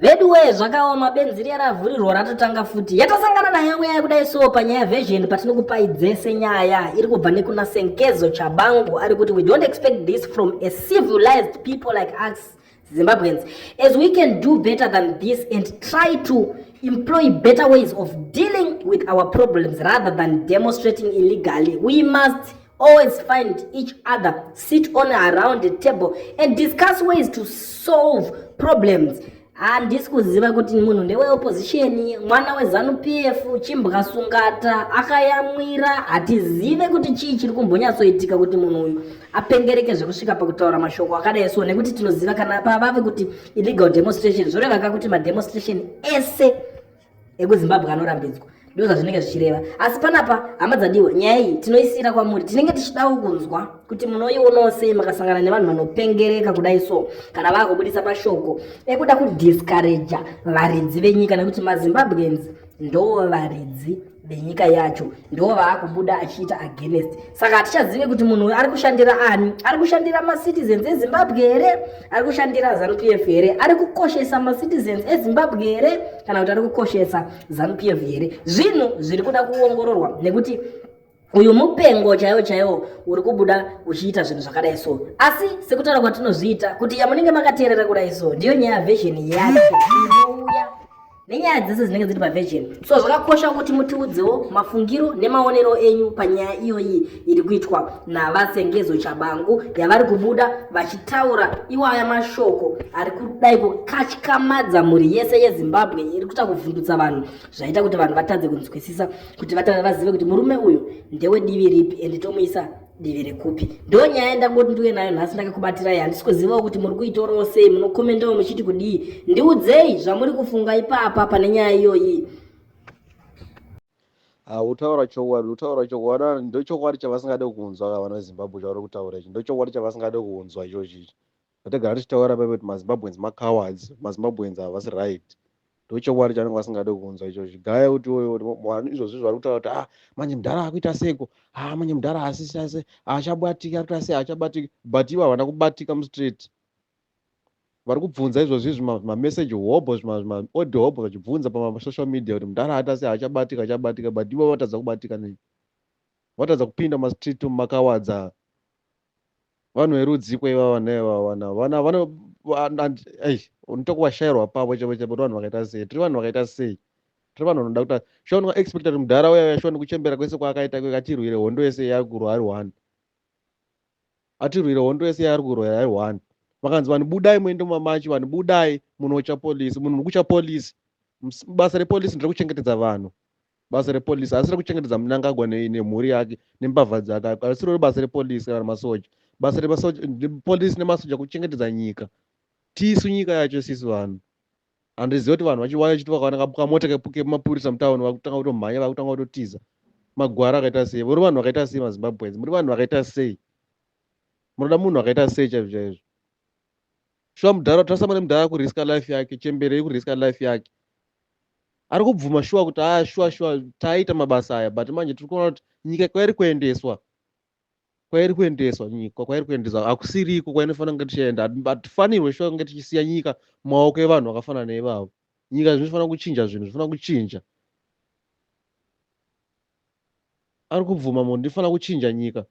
Veduwee zvakaoma benzi riya ravhurirwa ratotanga futi yatasangana nayo nguya yekudai so panyaya version patinokupai dzese nyaya iri kubva nekuna senkezo chabangu ari kuti we don't expect this from a civilized people like us zimbabweans as we can do better than this and try to employ better ways of dealing with our problems rather than demonstrating illegally we must always find each other sit on around the table and discuss ways to solve problems handisi kuziva kuti munhu ndeweopposition mwana wezanupf chimbwa sungata akayamwira hatizive kuti chii chiri kumbonyatsoitika kuti munhu uyu apengereke zvekusvika pakutaura mashoko akadai so nekuti tinoziva kana pavave kuti illegal demonstration zvorevaka kuti mademonstration ese ekuzimbabwe anorambidzwa ndozvazvinenge zvichireva asi panapa hama dzadiwa nyaya iyi tinoisiyira kwamuri tinenge tichidawo kunzwa kuti munoionawo sei makasangana nevanhu vanopengereka kudai so kana vakubudisa mashoko ekuda kudiscouraja varidzi venyika nekuti mazimbabweans ndoo varidzi venyika yacho ndiwo vaakubuda achiita against saka hatichazive kuti munhu uyu ari kushandira ani ari kushandira macitizens ezimbabwe here ari kushandira zanupf here ari kukoshesa macitizens ezimbabwe here kana kuti ari kukoshesa zanupf here zvinhu zviri kuda kuongororwa nekuti uyu mupengo chaiwo chaiwo uri kubuda uchiita zvinhu zvakadai so asi sekutaura kwatinozviita kuti yamunenge makateerera kudai so ndiyo nyaya vhesheni yake inouya nenyaya dzese dzinenge dziri pavirgin so zvakakosha kuti mutiudzewo mafungiro nemaonero enyu panyaya iyoyi iri kuitwa navasengezo chabangu yavari kubuda vachitaura iwaya mashoko ari kudai kukatyamadza mhuri yese yezimbabwe iri kuita kuvhundutsa vanhu zvaita kuti vanhu vatadze kunzwisisa kuti vazive kuti murume uyu ndewedivi ripi and tomuisa divi rekupi ndo nyaya yandangoti ndiuye nayo nhasi ndakakubatirai handisi kuzivawo kuti muri kuitorawo sei munokomendawo muchiti kudii ndiudzei zvamuri kufunga ipapa pane nyaya iyoyi hautaura chokwadi utaura chokwadi ah, ndochokwadi chavasingade kunzwa ka vana zimbabwe chauri kutaura ichi ndochokwadi chavasingade kunzwa ichochi ichi zvatagara tichitaura paipa kuti mazimbabweans macowards mazimbabweans havasi right ndochokwadi chanenge vasingade kunzwa icho zvigaya kuti vanhu izvozvi zvari kutaura kuti ah manje mudhara akuita seko ah manje mudhara asisase achabatiki akuita sei achabatiki but ivo havana kubatika mustreet vari kubvunza izvozvi zvimameseji hobho zvimaodi hobho vachibvunza pamasocial media kuti mudhara aita sei achabatika achabatika but ivo vatadza kubatika nei vatadza kupinda mumastreet makawadza vanhu verudziko ivava nevavana vana vano unoita kuvashairwa pavo chavo chavo kuti vanhu vakaita sei tiri vanhu vakaita sei tiri vanhu vanoda kuta shuwa ndinga expecta kuti mudhara uya uya shuwa ndikuchembera kwese kwaakaita kweka tirwire hondo yese yaari kurwa ari one atirwire hondo yese yaari kurwa ari one vakanzi vanhu budai muende mumamachi vanhu budai munocha polisi munhu nikucha polisi basa repolisi ndere kuchengetedza vanhu basa repolice asi rekuchengetedza munangagwa nemhuri yake nembavha dzake asi rori basa repolice kana masoja basa repolice nemasoja kuchengetedza nyika tisu nyika yacho sisi vanhu handiziva kuti vanhu vachiwaya chiti vakawana kamota kemapurisa mutauni vakutanga kutomhanya vakutanga kutotiza magwara akaita sei muri vanhu vakaita sei mazimbabweans muri vanhu vakaita sei munoda munhu akaita sei chaizvo chaizvo shuwa mudhara utasamane mudhara kuriska life yake chembere ikuriska life yake ari kubvuma shuwa kuti aa ah, shuwa shuwa taiita mabasa aya but manje tiri kuona kuti nyika kwairi kuendeswa kwairi kuendeswa nyika kwairi kuendeswa hakusiriko kwainofanira kunge tichienda hatifanirwe shuwa kunge tichisiya nyika mumaoko evanhu vakafanana nevavo nyika zvinofanira kuchinja zvinhu zvinofanira kuchinja ari kubvuma munhu ndifanira kuchinja nyika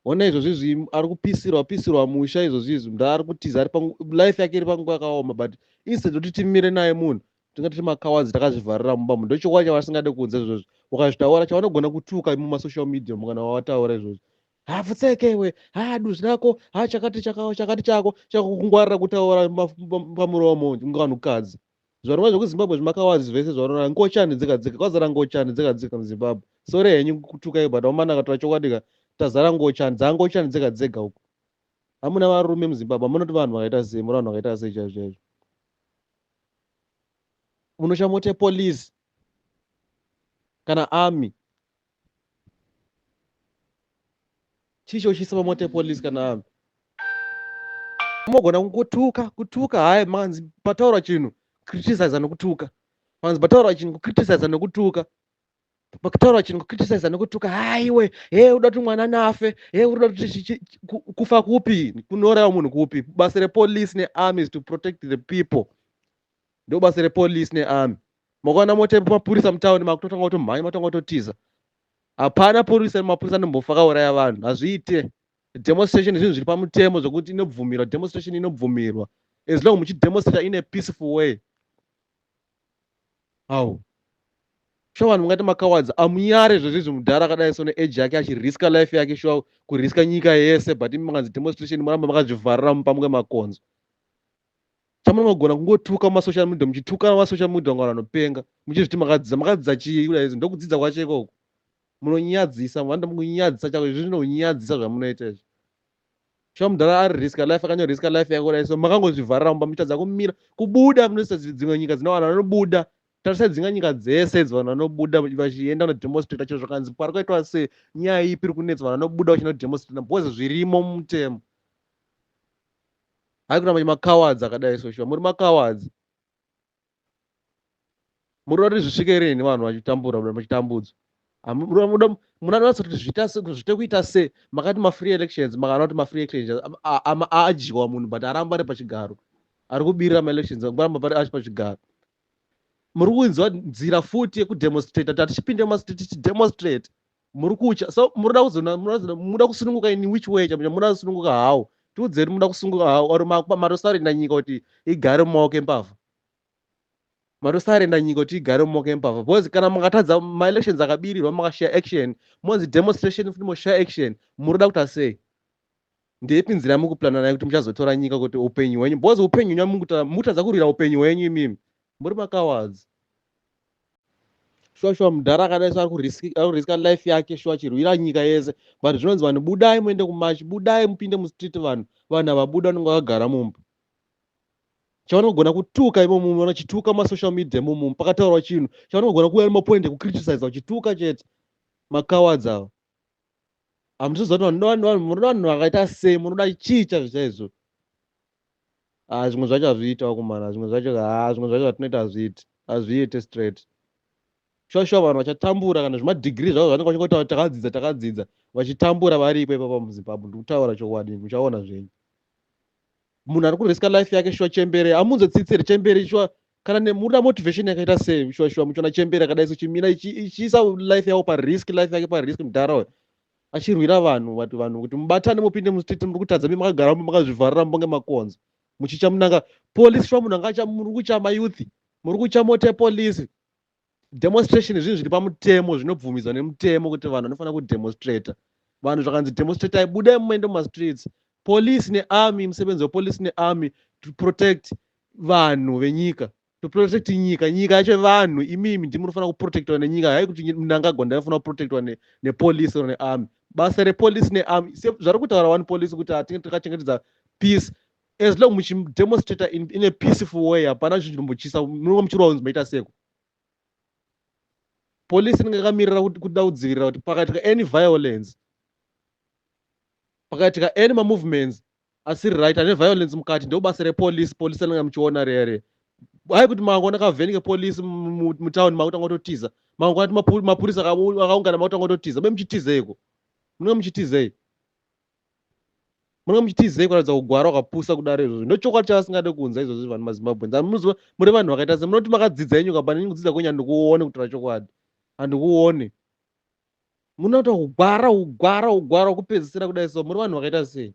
Hona izvozvi izvi ari kupisirwa pisirwa musha izvozvi izvi mnda ari kutiza ari life yake iri panguva yakaoma but instead yekuti timire naye munhu tinga tiri makawadzi takazvivharira mumba munhu ndochokwadi chavasingade kunze izvozvi ukazvitaura chavanogona kutuka mumasocial media mukana wawataura izvozvi hapfutseke iwe ha duzi rako ha chakati chakao chakati chako chakukungwarira kutaura pamuromo ngevanhukadzi Zvarova zvekuzimbabwe zvimakawaz vese zvarora ngochani dzega dzega kwazara ngochani dzega dzega muzimbabwe sore henyu kutuka iyo but omana akatora chokwadi ka tazara ngochani dzangochani dzega dzega uku hamuna varume muzimbabwe hamunoti vanhu vakaita sei muri vanhu vakaita sei chaizvo chaizvo munoshamote police kana army chii chotyisa pamota yepolice kana vanhu mogona kungotuka kutuka hayi manzi pataura chinhu criticize nokutuka manzi pataura chinhu kucriticize nokutuka pakutaura chinhu kucriticize nokutuka haiwe he uda kuti mwana nafe he uda kuti kufa kupi kunouraya munhu kupi basa repolice nearmy is to protect the people ndobasa repolice nearmy makaona mota yemapurisa mutown makutotanga kutomhanya matanga kutotiza hapana purisa mapurisa anombofa akauraya vanhu hazviite demonstration zvinhu zviri pamutemo zvokuti inobvumirwa demonstration inobvumirwa as long muchidemonstrata in a peaceful way how shuwa vanhu mungati makawadza amunyare zvezvizvi mudhara akadai so neage yake achiriska life yake shuwa kuriska nyika yese but imi makanzi demonstration muramba makazvivharira mupamuke makonzo chamunenge kugona kungotuka mumasocial media muchitukana mumasocial media kunga vanhu vanopenga muchizviti makadzidza makadzidza chii kuda izvi ndokudzidza kwacho ikoko munonyadzisa vanoda mukunyadzisa chako izvi zvinonyadzisa zvamunoita izvi shuwa mudhara ari risk life akanyo risk life yako kuda so makangozvivharira mumba muchitadza kumira kubuda munoisa dzimwe nyika dzine vanhu vanobuda tarisai dzinga nyika dzese idzi vanhu vanobuda vachienda kunodemonstrata chiro zvakanzi pari kwaitwa se nyaya ipi iri kunetsa vanhu vanobuda vachinodemonstrata because zvirimo mutemo Hai kuna manje makawadzi akadai so shuwa muri makawadzi. Muri kuti zvisvike rini vanhu vachitambura mura muchitambudzwa. Mura muda muna nasa kuti zvita se zvite kuita se makati ma free elections makana kuti ma free elections adyiwa munhu but aramba ari pachigaro. Ari kubirira ma elections ngamba pari achi pachigaro. Muri kunzwa nzira futi yeku demonstrate tatichipinde ma state tichi demonstrate. muri kutya so munoda kuzoona munoda kusununguka in which way chamcha munoda kusununguka how tiudzeri munoda kusununguka how or matosarenda nyika kuti igare mumaoko embavha matosarenda nyika kuti igare mumaoko embavha because kana makatadza maelections akabirirwa makashaya action monzi demonstration futi moshaya action munoda kuti asei ndeipi nzira yamukupurana nayo kuti muchazotora nyika kuti upenyu hwenyu because upenyu hwenyu mukutadza kurwira upenyu hwenyu imimi muri makawadzi shuwa shuwa mudhara akadai so ari kuriska life yake shuwa chirwira nyika yese but zvinonzi vanhu budai muende kumachi budai mupinde mustreet vanhu vanhu havabuda vanenge vakagara mumba chavanogona kutuka imomumu vanachituka masocial media imomumu pakataurwa chinhu chavanogona kuuya nemapoint ekucriticiza uchituka chete makawadzi ava hamusi zoti munoda vanhu vakaita sei munoda chii chazvo chaizvo ah, zvimwe zvacho hazviiti vakomana zvimwe zvacho ah, zvimwe zvacho zvatinoita hazviiti hazviite straight shuwa shuwa vanhu vachatambura kana zvemadhigiri zvavo zvanenge vachingotaura takadzidza takadzidza vachitambura varipo ipapa muzimbabwe ndikutaura chokwadi muchaona zvenyu munhu ari kuriska life yake shuwa chembere amunze tsitsiri chembere shuwa kana nemurina motivation yakaita sei shuwa shuwa muchona chembere akadai so chimina ichiisa life yavo parisk life yake parisk mudhara uyo achirwira vanhu vati vanhu kuti mubatane mupinde mustreet muri kutadza mi makagara mumba makazvivharira mumba ngemakonzo muchicha munanga police shuwa munhu anga acha muri kucha mayouth muri kucha mote police demonstration zvinhu zviri pamutemo zvinobvumidzwa nemutemo kuti vanhu vanofanira kudemonstrator vanhu zvakanzi demonstratai budai mumaende mumastreets police nearmy musebenzi wepolice nearmy to protect vanhu venyika to protect nyika nyika yacho vanhu imimi ndi munofanira kuprotectwa nenyika hai kuti mnangagwa ndaifanira kuprotectwa nepolice or nearmy basa repolice nearmy zvari kutaura wani police kuti hatinge takachengetedza peace as long muchidemonstrator in, in a peaceful way hapana chinhu chinombotyisa munonga muchirwa kunzi maita seko polisi inenge yakamirira kuda kudzivirira kuti pakaitika any violence pakaitika any mamovements asiri right ane violence mukati ndobasa repolisi polisi anenge muchiona rere hai kuti mangwana kavhenike polisi mutown makutanga kutotiza mangwana mapurisa akaungana makutanga kutotiza be muchitizeiko munenge muchitizei munenge muchitizei kuratidza kugwara wakapusa kudaro izvozvo ndochokwadi chavasingade kunza izvozvo vanhu mazimbabweans and munoziva muri vanhu vakaita se munoti makadzidza yenyu kapa neni kudzidza kwenyu handikuone kutaura chokwadi handikuone munoita kugwara kugwara kugwara kupedzisira kudai so muri vanhu vakaita sei